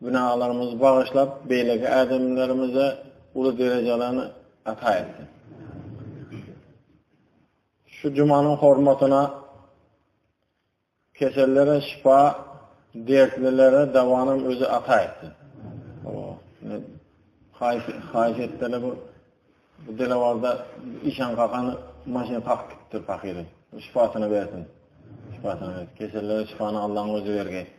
Günalarymyzy bagyşlap, beýleki ädimlerimize uly derejelerini ata etsin. Şu jumanyň hormatyna kesellere şifa, dertlilere dawanam özi ata etsin. Haýyş etdele bu bu delawarda işan kakany maşyn kakıp gitdi fakiri. Şifasyny bersin. Şifasyny bersin. Kesellere şifany Allah'ın özü bergeýsin.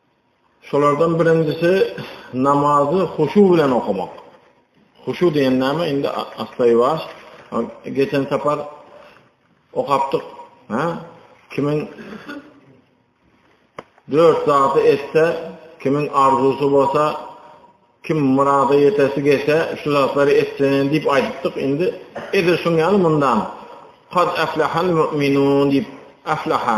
Şolardan birinjisi namazy huşu bilen okamak. Huşu diýen näme? Indi asla-ýuwaş geçen sapar okapdyk. Ha? Kimin dört zatı etse, kimin arzusu bolsa, kim murada ýetesi gelse, şu zatlary etsenin diýip aýdypdyk. Indi edil şuň ýaly mundan. Kad aflahal mu'minun diýip aflaha.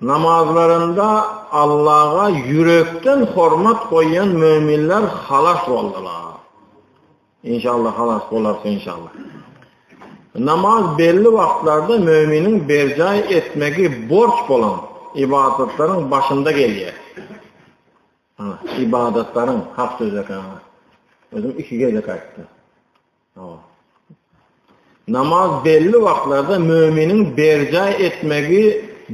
Namazlarynda Allaha ýürekden hormat goýýan möminler halas boldular. Inşallah halas bolarys inşallah. Namaz belli wagtlarda möminiň berjaý etmegi borç bolan ibadatlaryň başynda gelýär. Ibadatlaryň hak sözü Özüm iki gezek aýtdym. Namaz belli wagtlarda möminiň berjaý etmegi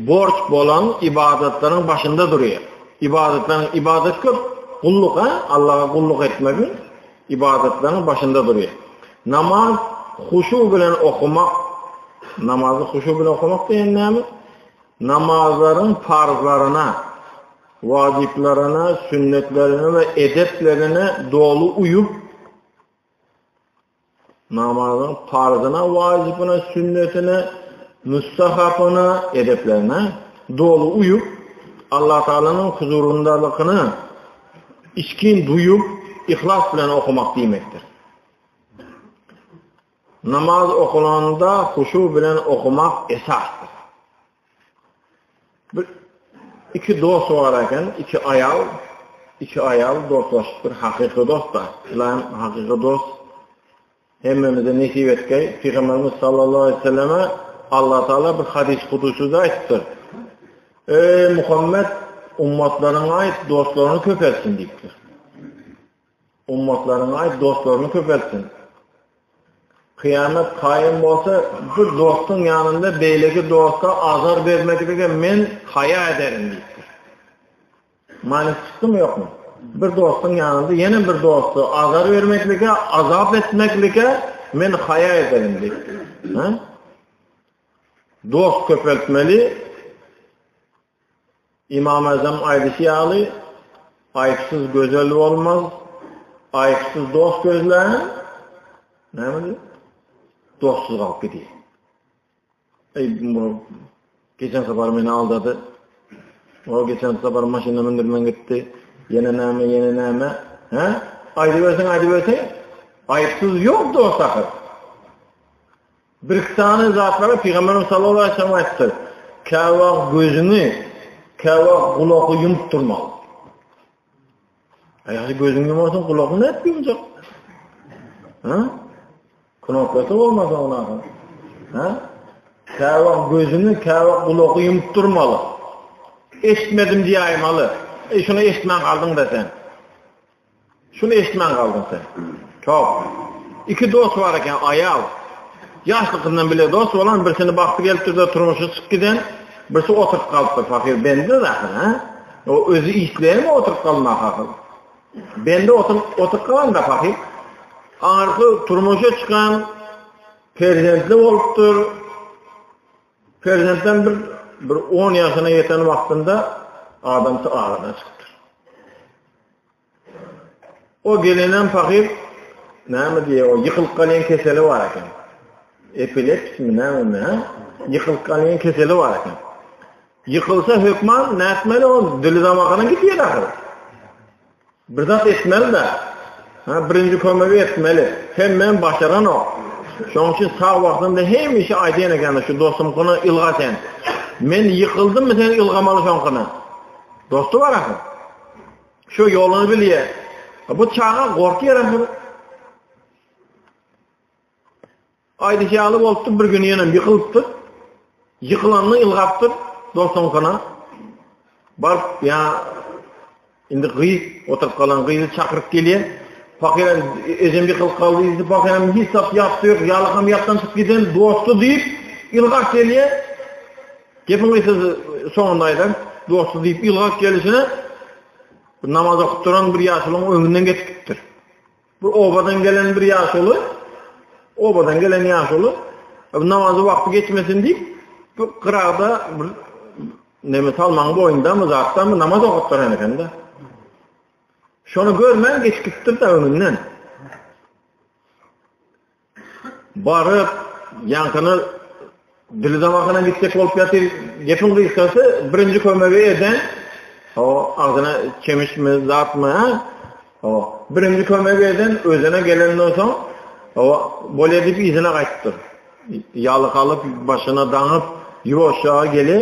borç bolan ybadatlaryň başynda durýar. Ybadatlaryň, ybadat köp, gulluk, a? Allaha gulluk etmegiň ybadatlaryň başynda durýar. Namaz huşu bilen okumak, namazy huşu bilen okumak diýen näme? Namazlaryň parzlaryna, wajyplaryna, sünnetlerine we edeplerine doly uýup, Namazyň parzyna, wajybyna, sünnetine, müstahapyna, edeplerine doly uýup, Allatagalanyň huzuryndalygyny içgin duýup, yhlas bilen okamak diýmekdir. Namaz okulanda huşu bilen okumak esasdyr. Bir iki dost bar eken, iki aýal, iki aýal dostlaşypdyr, hakyky dost-da. Ilam hakyky dost hemmemize nesip etgeý. Pygamberimiz sallallahu aleyhi ve selleme Allah Taala bir hadis kudusyda aýtdyr. Ey Muhammed, ummatlaryňa aýt, dostlaryňy köpeltsin diýipdir. Ummatlaryňy aýt, dostlaryňy köpeltsin. Kyýamat kaýym bolsa, bir dostuň ýanynda beýleki dosta azar bermeklige men haýa ederin diýipdir. Many çykdymy ýokmy? Bir dostuň ýanynda ýene bir dosta azar bermeklige, azap etmeklige men haýa ederin diýipdir. Dost köpeltmeli, Ymam Azam aýdyşy ýaly, Aýypsyz gözel bolmaz, aýypsyz dost gözlän, nämedi? Dostsuz galyp gidýär. Eý, bu geçen sapar meni aldady. O geçen sapar maşyna mündirmen gitdi. Ýene näme, ýene näme? Hä? Aýdyberseň, aýdyberseň. Aýypsyz ýok dost ahyr. Birki sany zatlara Pygamberimiz sallallahu aleyhi ve sellem aýtdy. Käwagt gözüňi, käwagt gulagy ýumup durmak. Aýaly gözüňi ýumarsan, gulagyny nädip ýumjak? Ha? Kunoklasa bolmasa ona. Ha? Käwagt gözüňi, käwagt gulagy ýumup durmaly. Eşitmedim diýäýmeli. E şuny eşitmän galdyň da sen. Şuny eşitmän galdyň sen. Top. Iki dost bar eken, aýal. Ýaşlykyndan bile dost bolan, birsini bagty gelipdir-de turmuşy çykyp giden, birsi oturyp galypdyr. Pahyr bende zahir, ha? O özi isleýärmi oturyp galmak hakyl? Bende oturyp oturyp galanda pahyr arky turmuşa çykan perzentli bolupdyr. Perzentden bir bir 10 ýaşyna ýeten wagtynda adamsy aradan çykypdyr. O gelenem pahyr näme diýýär, o ýykylyp galýan keseli bar eken. Epilepsimi näme ha? Ýykylyp galýan keseli bar eken. Ýykylsa hökman nätmeli o dili damagyna gidýär ahyr. Bir zat etmeli de. Ha, birinji kömegi etmeli. Sen men başaran o. Şoň üçin sag wagtynda hemişe aýdýan eken şu dostumkyna ylga sen. Men ýykyldym sen ylgamaly şoňkyna. Dostu bar ahyr. Şu ýoluny bilýär. Bu çaga gorkýar hem. Aýdyş ýaly bolupdy, bir gün ýene ýykylypdyr. Ýykylanda ýylgapdyr dostuňkyna. Baryp, ýa indi gyz oturyp galan gyzy çakyryp gelýär. Pakyr ejem ýykylyp galdy, ýüzi pakyr hem hiç zat ýapdy ýok, ýalakam ýapdan çykyp giden dosty diýip ýylgap gelýär. Gepiň gysgasy soňunda aýdan, dosty diýip ýylgap gelişine bir namaz okup duran bir ýaşulyň öňünden geçip gitdir. Bir obadan gelen bir ýaşuly, obadan gelen ýaşuly namazy wagty geçmesin diýip bir gyrada bir neme salmaň boýunda mı zatda mı namaz okup duran ekende. Şonu görmän geçip gitdir de öňünden. Baryp, ýaňkyny dili damagyna gitjek bolup ýatyr. Gepiň gysgasy, birinji kömegi eden, o agzyna çemişmi, zatmy, ha? O, birinji kömegi eden özüne gelenden soň, o, bolýa diýip yzyna gaýtdyr. Ýalykalyp, başyna daňyp, ýuwaşja gele,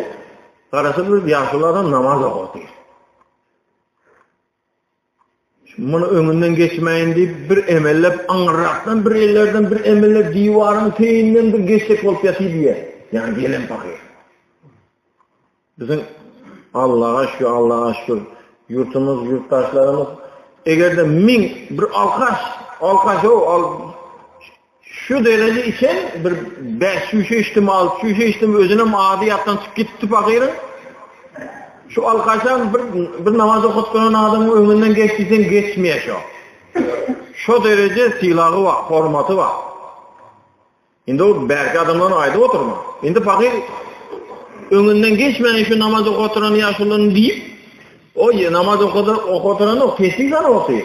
garasy bir ýaşuly adam namaz okadyr. Muny öňünden geçmäýin diýip, bir emellep aňyrrakdan bir ellerden bir emellep diwaryň teýinden bir geçsek bolup ýatyr diýýär. Ýani gelen pahyr. Biziň Allaha şükür, Allaha şükür. Ýurtumyz, ýurtdaşlarymyz eger-de 1000 bir alkaş, alkaş o, al Şu dereje içen bir bäş çüýşe içdim, alty çüýşe içdim, özünem ady ýatdan çykyp gitdi pagyryň. Şu alkaşam bir bir namaz okutgan adamyň öňünden geç diýseň geçmeýär şo. Şo dereje sylagy bar, hormaty bar. Indi o bärki adamlaryň aýdyp oturma. Indi pagyr öňünden geçmän şu namaz okuturan ýaşulyny diýip, o namaz okuturan o peslik zany otyr.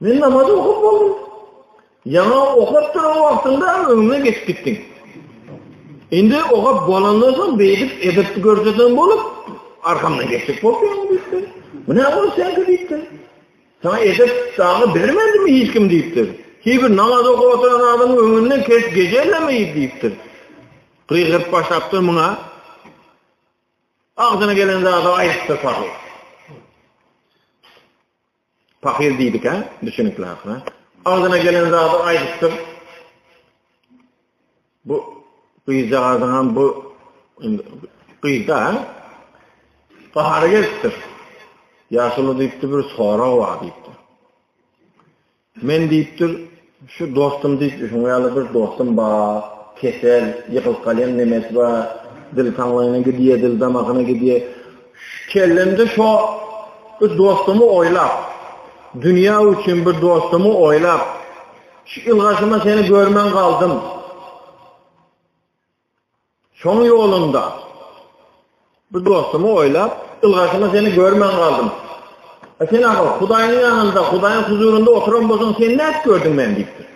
Men namaz okup boldum. Ýaňa okap duran wagtynda öňüme geçip gitdiň. Indi okap bolandan soň beýdip edip görjedim bolup, arkamdan geçip bolýar diýdi. Bu ne bol sen diýdi. Sana edip saňa bermedim hiç kim diýdi. Hiçbir namaz okap oturan adam öňünden kes gejelemey diýdi. Gygyr başapdyr muňa. Agzyna gelen zady aýtdy sahy. Pahyr diýdikä, düşünikli ahyry. Agzyna gelen zady aýdypdyr. Bu gyzjagazyňam bu gyzda gahary gelipdir. Ýaşuly diýipdir, bir sorag bar diýipdir. Men diýipdir, Şu dostum diýip şuňa ýaly bir dostum bar kesel ýykylyp galýan nemesi bar dil taňlaýyna gidýär dil damagyna gidýär kellemde şo bir dostumy oýlap dünýä üçin bir dostumy oýlap şu ylgaşyma seni görmän galdym. Şoň ýolunda bir dostumy oýlap, ylgaşyma seni görmän galdym. A sen aga, Hudaýyň ýanynda, Hudaýyň huzurynda oturan bolsaň, sen nädip gördüň meni diýipdir.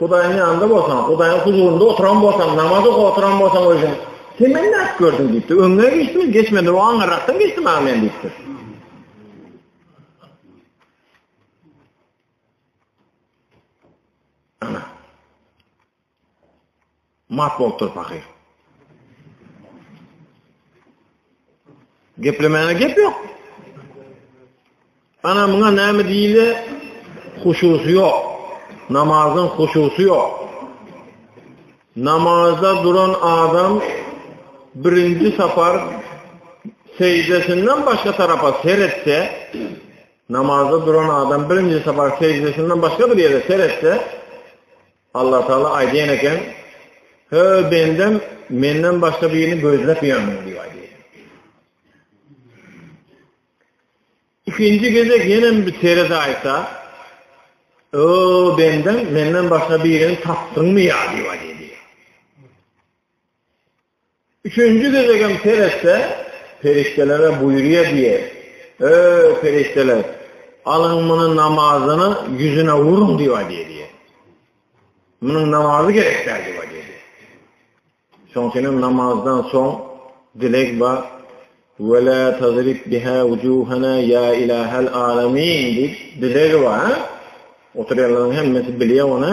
Hudaýyň ýanynda bolsaň, Hudaýyň huzurynda oturan bolsaň, namaz okap oturan bolsaň özüň, sen meni nädip gördüň diýipdir. Öňüne geçdim, geçmedi, o aňyrakdan geçdim aga men diýipdir. Mat bolup dur pahyr. Geplemäne gep yok. Ana muňa näme diýle? Huşusy ýok. Namazyň huşusy ýok. Namazda duran adam birinji sapar seýdesinden başga tarapa seretse, Namazda duran adam birinji sapar seždesinden başga bir ýere seretse, Allah Taala aýdýan eken, "Hö bendem menden başga birini gözläp ýörmüň?" diýip aýdýar. Ikinji gezek ýenem bir serede aýtsa, "O bendem menden başga birini tapdyňmy ýa?" diýip aýdýar. Üçünji gezegem seretse, perişdelere buýurýar diýýär, Öý, perişdeler, alyň muny namazyna ýüzüne uruň diýip aýdýar diýýär. Munuň namazy gerek däl diýip aýdýar diýýär. Şoň üçin hem namazdan soň dileg bar. Wela tazrib biha wujuhana ya ilahal alamin diýip dilegi bar. Oturýanlaryň hemmesi bilýär ony.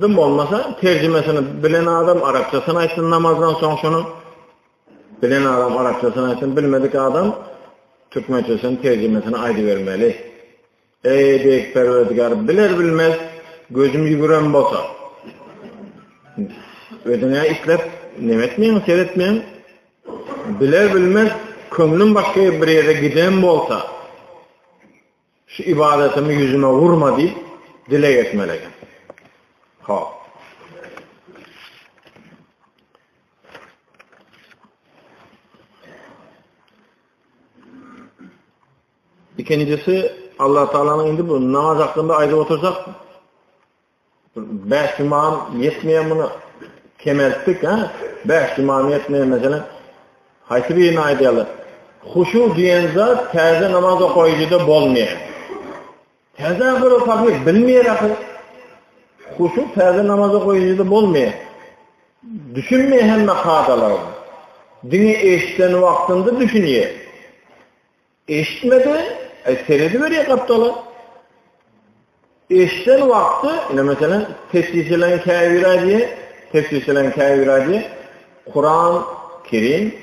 Dym bolmasa terjimesini bilen adam arapçasyny aýtsyn namazdan soň şony bilen adam arapçasyny aýtsyn bilmedik adam türkmençesini terjimesini aýdybermeli. Eý beýik perwerdigär biler bilmez gözüm ýügüren bolsa özüňe islep nemetmeň seretmeň biler bilmez köňlüm başga bir ýere giden bolsa Şu ybadatymy ýüzüme urma diýip dileg etmeli eken. Hop. İkincisi Allah Taala'nın indi bu namaz hakkında aýdyp otursak Bäş imam ýetmeýär muny kemeltdik ha. Bäş imam ýetmeýär meselem. Haýsy birini aýdaýarlar? Huşu diýen zat täze namaz okaýjyda bolmaýar. Täze bir okaýjy bilmeýär ahyr. Huşu täze namaz okaýjyda bolmaýar. Düşünmeýär hemme kadalara. Diňe eşden wagtynda düşünýär. Eşitmedi, e, serediberyä gapdala. Eşden wagty, ine meselem, tesbihlän käbirä diýe, tesbihlän käbirä diýe, Kuran Kerim,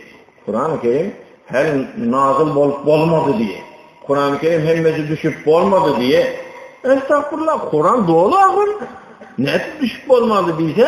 Kuran Kerim her nazil bolup bolmady diýe. Kuran Kerim hemmesi düşüp bolmady diýe. Estagfirullah, Kuran doly agyr. Nädip düşüp bolmady diýse,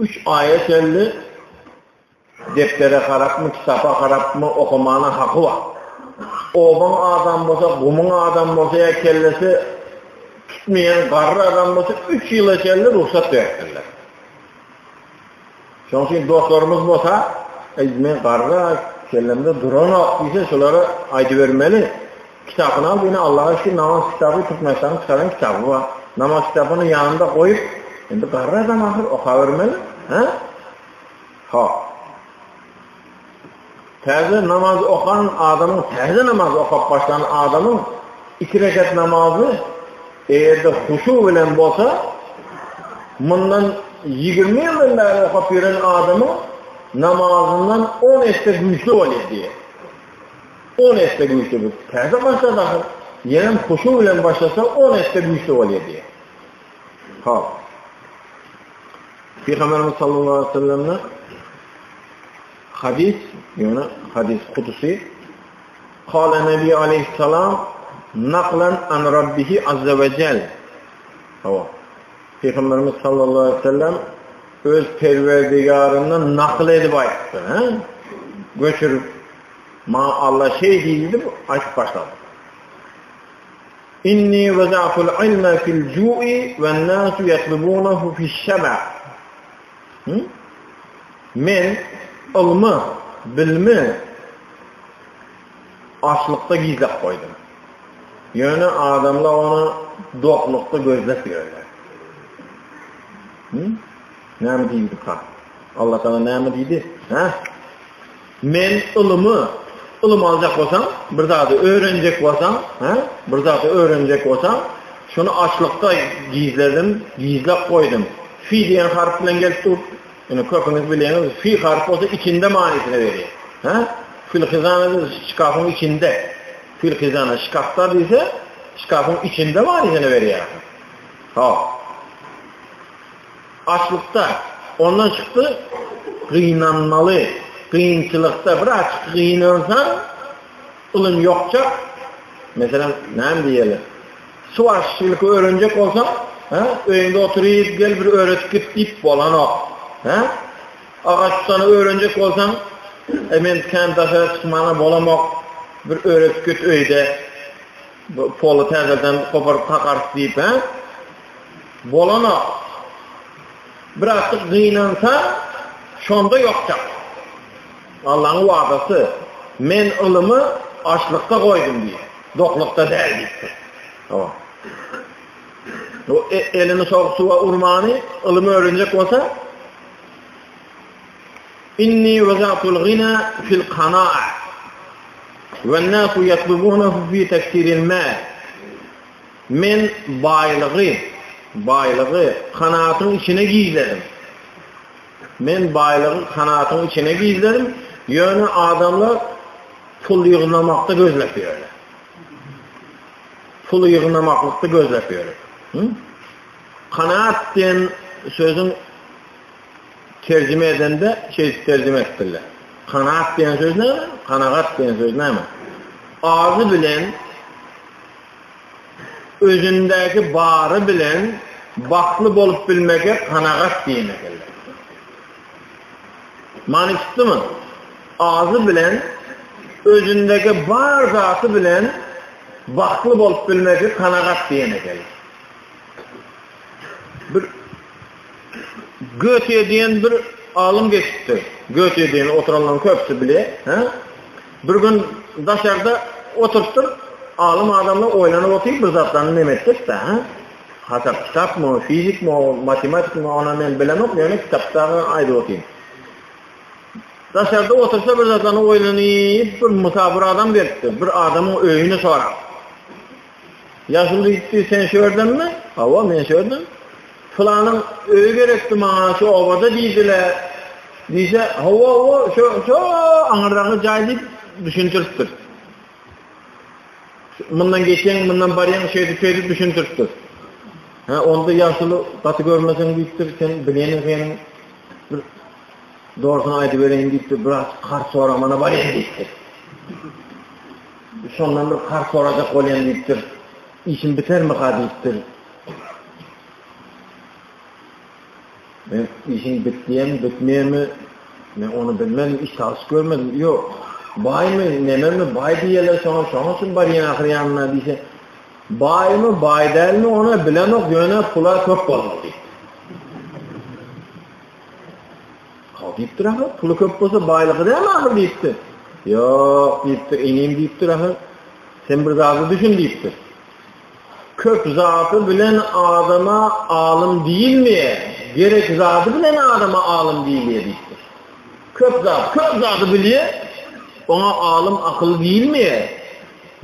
Üç aýa çenli depdere harapmy, kitapa harapmy, okamana haky bar. Obaň adam bolsa, gumuň adam bolsa ýa kellesi tutmaýan garry adam bolsa üç ýyla çenli rugsat beripdirler. Şoň üçin dostlarymyz bolsa, men garra kellemde duranok diýse, şolara aýdybermeli. Kitapynam ine Allaha şü namaz kitaby Türkmenistanyň çykaran kitaby bar. Namaz kitabyny ýanynda goýup, indi garry adam ahyr okabermeli, hä? Hak. Täze namaz okan adamyň, täze namaz okap başlan adamyň iki rekat namazy eýerde huşu bilen bolsa, mundan 20 ýyldan bäri okap ýören adamyň namazyndan 10 esse güýçli bolýar diýýär. On esse güýçli bir täze başla dahyl, ýenem huşu bilen başlasa on esse güýçli bolýar diýýär. Hop. Pygamberimiz sallallahu aleyhi ve sellem'den hadis, yani hadis kudusi Kale Nebi aleyhisselam naklen an Rabbihi azze ve cel. Hava. Peygamberimiz sallallahu aleyhi ve sellem öz perverdigarından nakl edip aytdı. Göçürüp Maňa Alla şeý diýdi diýip aýdyp başlady. Inni waza'tul ilme fil ju'i wen nasu yatlubunahu fiş şaba. Men ylmy, bilmi açlykda gizläp goýdum. Ýöne adamlar ony doklukda gözläp ýörler. Näme diýdi ka? Allah sana näme diýdi? Ha? Men ylymy, ylym aljak bolsaň, bir zady öwrenjek bolsaň, hä, bir zady öwrenjek bolsaň, şuny açlykda gizledim, gizläp goýdum. Fi diýen harp bilen gelip dur. Ine, köpüňiz bilýäňiz, fi harp bolsa içinde manysyny berýär. Hä? Filhizana diýse şkafyň içinde. Filhizana şkafda diýse, şkafyň içinde manysyny berýär. Hop. Açlykda, ondan çykdy, gynanmaly, gynçylykda, bir açyk gynansaň, ylym ýokjak, meselem, näme diýeli, suwaryşçylyk öwrenjek bolsaň, hä, öýüňde oturyp, gel bir öwredip git diýip bolanok. Hä? Agaç tutany öwrenjek bolsaň, e, men kän daşary çykmana bolamok, bir öwredip git öýde. Bu poly täzeden goparyp takarys diýip he. Bolanok. Birazjyk gynansa şonda ýokjak. Allaň wadasy. Men ylymy açlykda goýdum diýip. Doklukda däl diýipdir. O. O e, elini soň suwa urmany, ylymy öwrenjek bolsa, Inni wezatul gina fil kana'a Wen nasu yatlubunahu fi taktiril mal Men baýlygy, baýlygy kanatyň içine gizledim. Men baýlygy kanatyň içine gizledim, ýöne adamlar pul ýygnamakda gözläp ýörler. Pul ýygnamakda gözläp ýörler. Kanaat diýen sözüň Terjime edende şeýdip terjime etdirler. Kanaat diýen söz näme? Kanagat diýen söz näme? Azy bilen özündäki bary bilen bakly bolup bilmege kanagat diýen ekenler. Many tutdymy? Azy bilen özündäki bar zaty bilen bakly bolup bilmegi kanagat diýen ekenler. Bir Göte diýen bir alym geçipdir. Göte diýen oturanlaryň köpüsi bilýär. Hä? Bir gün daşarda oturypdyr. Alym adamlar oýlanyp otyr, bir zatlaryny nem etdik da, hä? Hasap kitapmy, fizikmi, matematikmi, ony men bilemok, ýöne kitapdaky aýdyp otyryn. Daşarda otursa bir zatlaryny oýlanyp, bir musabyr adam gelipdir. Bir adamyň öýüni sorap. Ýaşuly diýipdi, Sen şu ýerdenmi? Hawa, men şu ýerden. Pylanyň öýi gerekdi maňa, şu obada diýdiler. Diýse, hawa, hawa, şu, şu aňyrdaky jaý diýip düşündiripdir. Mundan geçen, mundan barýan şeýdi, şeýdi düşündiripdir. Ha, onda ýaşuly gaty görmeseň diýipdir, sen bileni sen bir dogrusyny aýdyp bereýin diýipdir, biraz kart soramana barýan diýipdir. Şondan bir karz sorajak bolýan diýipdir. Işim bitermika diýipdir. Men işiň bitýärmi, bitmeýärmi? Men ony bilmedim, iş çalyş görmedim. Ýok. Baýmy, nememi, baý diýýärler şoňa, şoňa üçin barýan ahyr ýanyna diýse. Baýmy, baý dälmi, ony bilemok, ýöne pula köp bolmaly. Haw diýipdir ahyr, puly köp bolsa baýlygy dälmi ahyr diýipdir. Ýok diýipdir, inim diýipdir ahyr. Sen bir zada düşün diýipdir. Köp zady bilen adama alym diýilmeýär. Gerek zady bilen adama alym diýilýär diýipdir. Köp zat, köp zady bilýär. Oňa alym akyl diýilmeýär.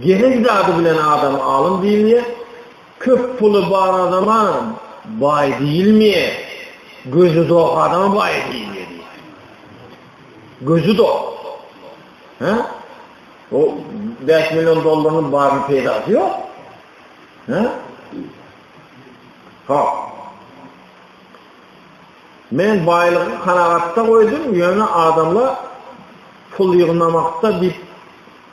Gerek zady bilen adam alym diýilýär. Köp puly bar adama baý diýilmeýär, gözi dok adama baý diýilýär diýipdir. Gözi dok. Hä? O bäş million dollarynyň barynyň peýdasy ýok. Hä? Ha. Men baýlygy kanagatda goýdum, ýöne adamlar pul ýygnamakda diýip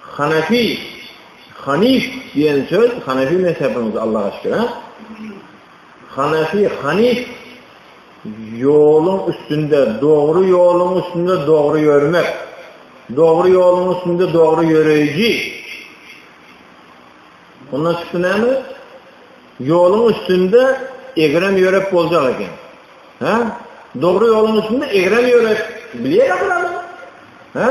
Hanefi, Hanif diýen söz Hanefi mezhebimiz Alla aşkera. Hanefi, Hanif ýoluň üstünde, dogry ýoluň üstünde dogry ýörmek. Dogry ýoluň üstünde dogry ýöreýji. Ondan çykdy näme? Ýoluň üstünde egrem ýörek boljak eken. Ha? Dogry ýoluň üstünde egrem ýörek bilýär adam. Ha?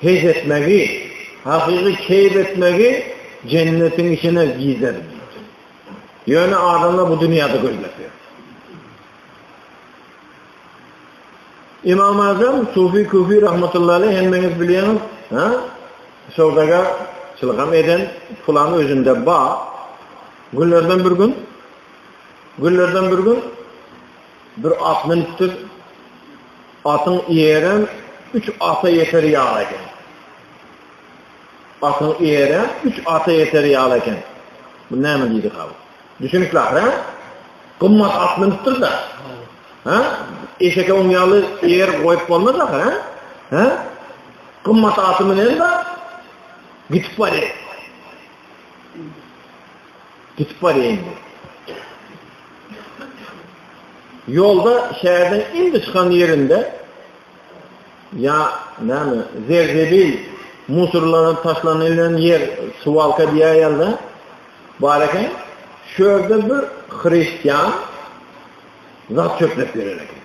Pes etmegi, hakyky keýp etmegi Jennetiň içine gider diýdi. Ýöne adamlar bu dünýäde gözleýär. Imam Azam Sufi Kufi rahmetullahi aleyh hemmeňiz bilýäňiz, ha? Söwdaga çylgam eden pulan özünde ba. Günlerden bir gün günlerden bir gün Bir at münüpdir. Atyň eýerem üç ata ýeter ýaly eken. Atyň eýerem üç ata ýeter ýaly eken. Bu näme diýdika bu? Düşünikli ahyr, hä? Gymmat at münüpdir-de. Hä? Eşeke oň ýaly eýer goýup bolmaz ahyr, hä? Hä? Gymmat aty münen-de gitip barýar. Gitip barýa indi. Ýolda şäherden indi çykan ýerinde ýa näme zerzebil musurlanyp taşlanylan ýer suwalka diýýär ýalda bar eken. Şu ýerde bir hristian zat çöplep ýörer eken.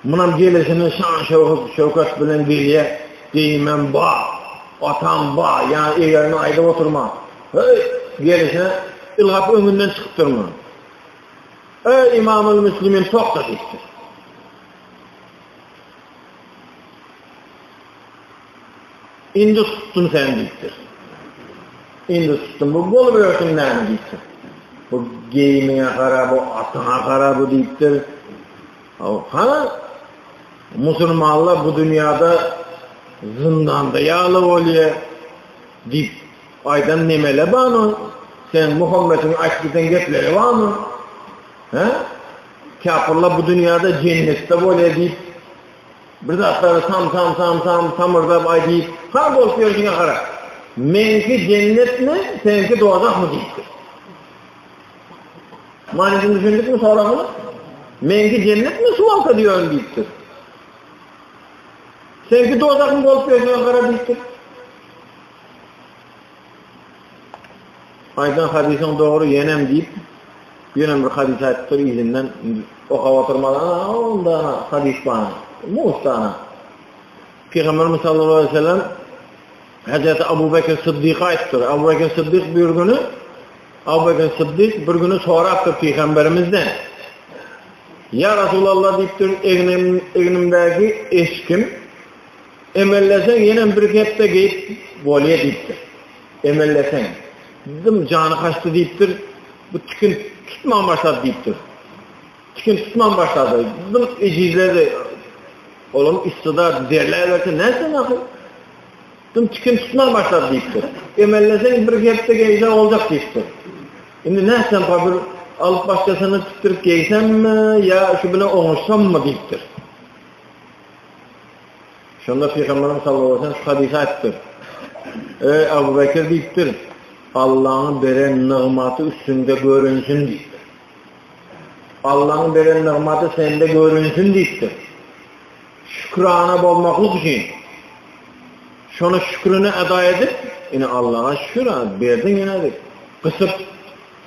Munam gelesini şan-şöhrat bilen gelýä, geýimem bar, atam bar, ýa-ni egerme aýdyp oturman, heý, gelişine ylgap öňünden çykyp durman. Eý, Imamul Müslimin, togta diýipdir. Indi tutdum seni diýipdir. Indi tutdum. Bu bolubersin näme diýipdir. Bu geýimiňe gara, bu atyňa gara bu diýipdir. Ha? Musulmanlar bu dünýäde zindanda ýaly bolýar diýip aýdan nemele banu sen Muhammediň aýtdydan gepleri banu he kafirler bu dünýäde jennetde bolýar diýip Bir zatlary sam-sam-sam-sam samyrdap aý diýip, han bolup ýörşüňe gara. Meňki jennetmi, seňki dozahmy diýipdir. Manysyny düşündikmi soragyň? Meňki jennetmi şu wagta diýen diýipdir. Seňki dozahmy bolup ýörşüňe gara diýipdir. Aýdan hadysyň dogry ýenem diýip ýöne bir hadys aýdypdyr yzyndan okap oturmadan onda hadys bar mustana Pygamberimiz sallallahu aleyhi ve sellem Hazreti Abu Bekir Sıddık aýdypdyr Abu Bekir Sıddık bir günü Abu Bekir Sıddık bir günü sorapdyr Pygamberimizden Ya Resulallah diýipdir egnimdäki eşkim Emelleseň ýenem bir hepde geýip bolýa diýipdir. Emelleseň. Dym jany kaçdy diýipdir. Bu tikin tutman başlady diýipdir. Tikin tutman başlady. Dym ejizledi. Olam üstüda derlä berse näse näse. Dym tikin tutman başlady diýipdir. Emelleseň bir hepde geýse boljak diýipdir. Indi näse bir alyp başlasyny tutduryp geýsemmi ýa şu bilen oňuşsammy diýipdir. Şonda Pygamberimiz sallallahu aleyhi ve sellem şu hadisi aýtdyr. Eý Abu Bekir diýipdir, Allah'ın beren nygmaty üstünde görünsün diýipdir. Allah'ın beren nygmaty sende görünsün diýipdir. Şükrana bolmaklyk üçin şonu şükrüni eda edip, ine Allah'a şükür edip, berdin ýene edip, gysyp,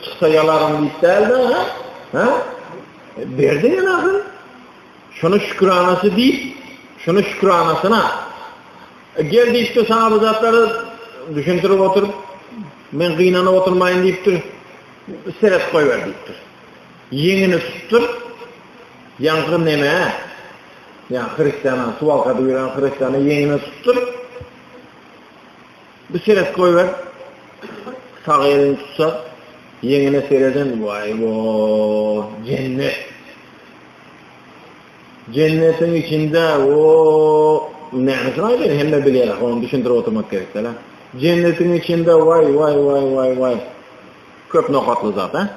çıksa yalarım diýip däldi, ha? Ha? E, berdin ýene ahir. Şony şükranasy diýip, şony şükranasyna. Gel diýipdir saňa bu zatlary düşündirip oturyp, men gynanyp oturmaýyn diýipdir. Seret goýber diýipdir. Ýeňini tutupdyr. Ýaňky neme? Ýa hristiýana suwal gadyp ýören hristiýana ýeňini tutupdyr. Bir seret goýber. Sag elini tutsa, ýeňine sereden, waý, jennet. Jennetiň içinde o nämesin aýdaýyn hemme bilýär ony düşündirip oturmak gerek däl. Jennetiň içinde vay vay vay vay vay köp nokatly zat ha.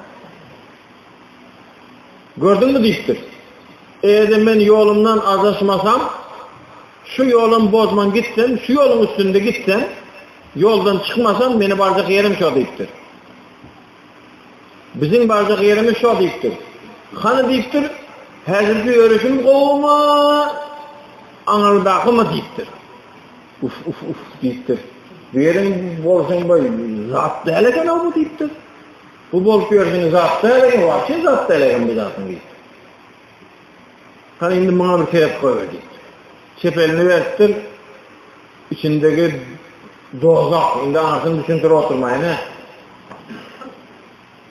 Gördün mü diýipdir. Eýer men ýolumdan azaşmasam şu ýolum bozman gitsem şu ýoluň üstünde gitsem ýoldan çykmasam meni barjak ýerim şo diýipdir. Biziň barjak ýerimiz şo diýipdir. Hany diýipdir, häzirki ýörişim gowumy, aňyrdakymy diýipdir. Uf, uf, uf diýipdir. Bu ýeriň bolşuň boý, zat däl eken-ow bu diýipdir. Bu bolup ýörşüň zat däl eken, wagşy zat däl eken bu zatyň diýipdir. Hany indi muňa bir sebäp goýber diýipdir. Çep elini beripdir. Içindegi dozah indi anysyny düşündirip oturmaýyn hä.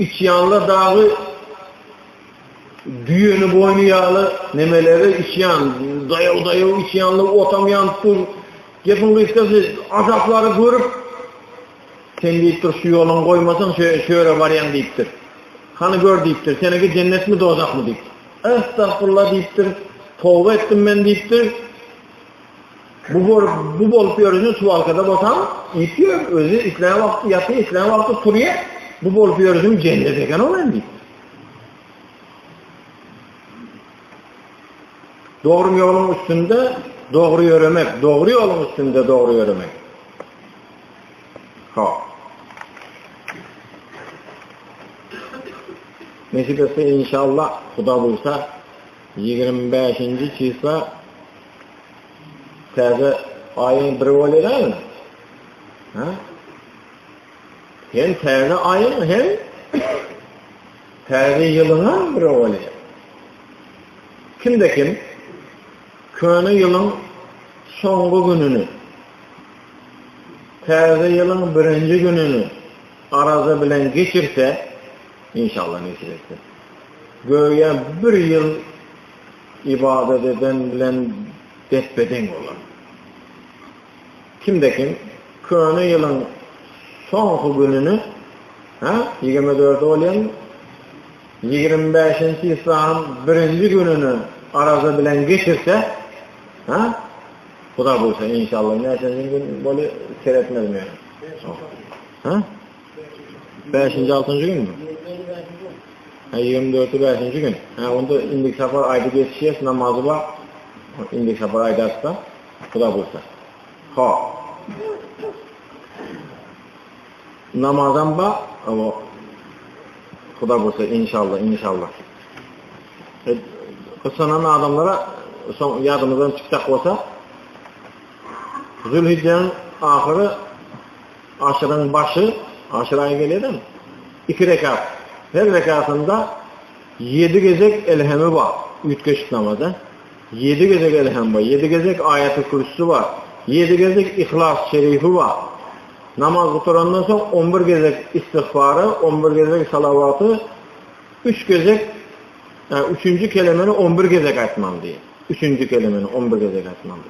Içýanlar dagy düýeni boýny ýaly nemeleri içýän, daýaw-daýaw içýanlar otam ýanyp dur. Gepiň gysgasy azaplary görüp sen diýipdir şu ýoluňy goýmasaň şu şu ýere barýaň diýipdir. Hany gör diýipdir seneki jennetmi dozahmy diýip. Estagfurullah diýipdir. Toba etdim men diýipdir. Bu bor, bu bolup ýörüne suwalkada bolsaň, ýetiyor, özi islän wagty ýatyr, islän wagty turýa. Bu bolup ýörüne jennet eken ol endi. Dogry ýoluň üstünde dogry ýöremek, dogry ýoluň üstünde dogry ýöremek. Ha. Nesip etse inşallah Huda bulsa 25-nji çysla Täze aýyň biri bolýar dälmi? Ha? Hem täze aýyň hem täze ýylyň biri bolýar. Kimde kim köne ýylyň soňky gününi täze ýylyň birinji gününi araza bilen geçirse, inşallah nesip etse. Göýä bir ýyl Ybadat eden bilen depbe-deň bolar. Kimde kim köne ýylyň soňky gününi, ha, ýigrimi dördi bolýarmy? Ýigrimi bäşinji islanyň birinji gününi araza bilen geçirse, ha, Huda buýursa, inşallah, näçenji gün bolýar, seretmedim ýa. Ha? Bäşinji, altynjy günmi? Ha, ýigrimi dörti bäşinji gün. Ha, onda indi sapar aýda geçýäs, namazy bar. Indi sapar aýdarsa, Huda buýrsa. Ha. Namazam bar, o Huda buýrsa, inşallah, inşallah. E, Gysanan adamlara soň ýadymyzdan çykjak bolsa, Zülhijjäniň ahyry Aşyryň başy, aşyr aýy gelýärem, iki rekat. Her rekatynda ýedi gezek elhemi bar, üýtgeşik namaza. Ýedi gezek elhem bar, ýedi gezek aýaty-kürsüsi bar, ýedi gezek Yhlas şerifi bar. Namaz gutarandan soň on bir gezek istigfary, on bir gezek salawaty, üç gezek, ýa üçünji kelemeni on bir gezek aýtmaly diýýär. Üçünji kelemeni on bir gezek aýtmaly.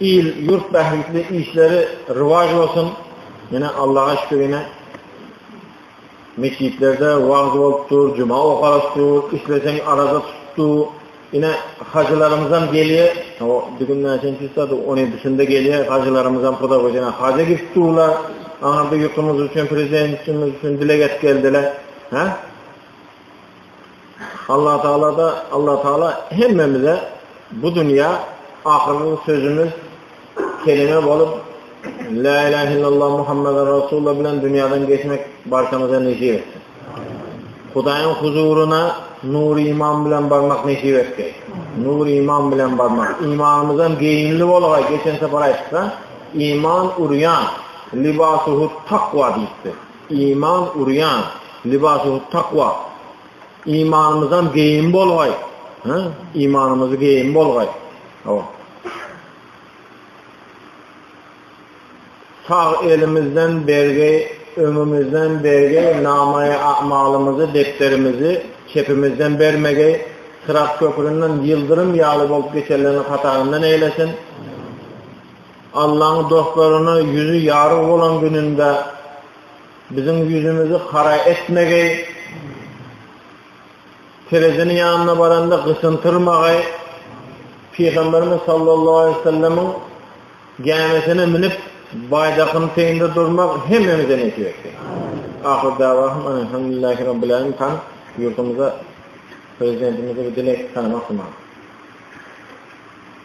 Il ýurt bähbitli işleri rywaç bolsun. Ýene Allaha şükür ýene meçitlerde wagyz bolup dur, juma okalyp dur, isleseň araza tutup dur. Ine hajylarymyzam gelýär. O bir gün näçenji saat? 17-sinde gelýär. Hajylarymyzam pudak öýüne haja gidip durlar. Aňa bir ýurdumyz üçin, prezidentimiz üçin dileg edip geldiler. Hä? Allatagala-da Allatagala hemmemize bu dünýä ahyrky sözümiz kelime bolup La ilahe illallah Muhammeden Rasulullah bilen dünýäden geçmek barçamyza nesip etsin. Hudaýyň huzuryna nur iman bilen barmak nesip etdi. Nur iman bilen barmak. İmanymyzdan geyinli bolga geçen sefer aytsa, iman uryan, libasuhu takva deyipti. Iman urýan, libasu'ut-takwa. Imanymyzam geýim bolgaý. Hä? Imanymyzy geýim bolgaý. Hawa. Sag elimizden bergi, öňümizden bergi namaýy amalymyzy, depderimizi çepimizden bermegi, syrat köpründen ýyldyrym ýaly bolup geçenleriň hataryndan eýlesin. Allaň dostlaryna ýüzi ýaryg bolan gününde biziň ýüzümizi hara etmegi, tereziniň ýanyna baranda gysyntyrmagy, Pygamberimiz sallallahu aleýhi we sellemiň gämisine münüp, baýdakyň teýinde durmak hemmämize nesip etsin. Ahyr dawahym elhamdülillahi rabbil alamin tan ýurdumyza prezidentimize bir dilek tanamak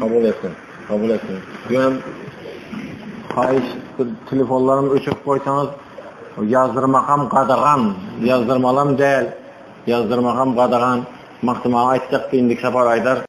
Kabul etdim. Kabul etdim. Ýöne haýyş telefonlarymy öçürip goýsaňyz, ýazdyrmakam gadagan, ýazdyrmalam däl. Ýazdyrmakam gadagan. Magtymguly aýtjak, indik sapar aýdar.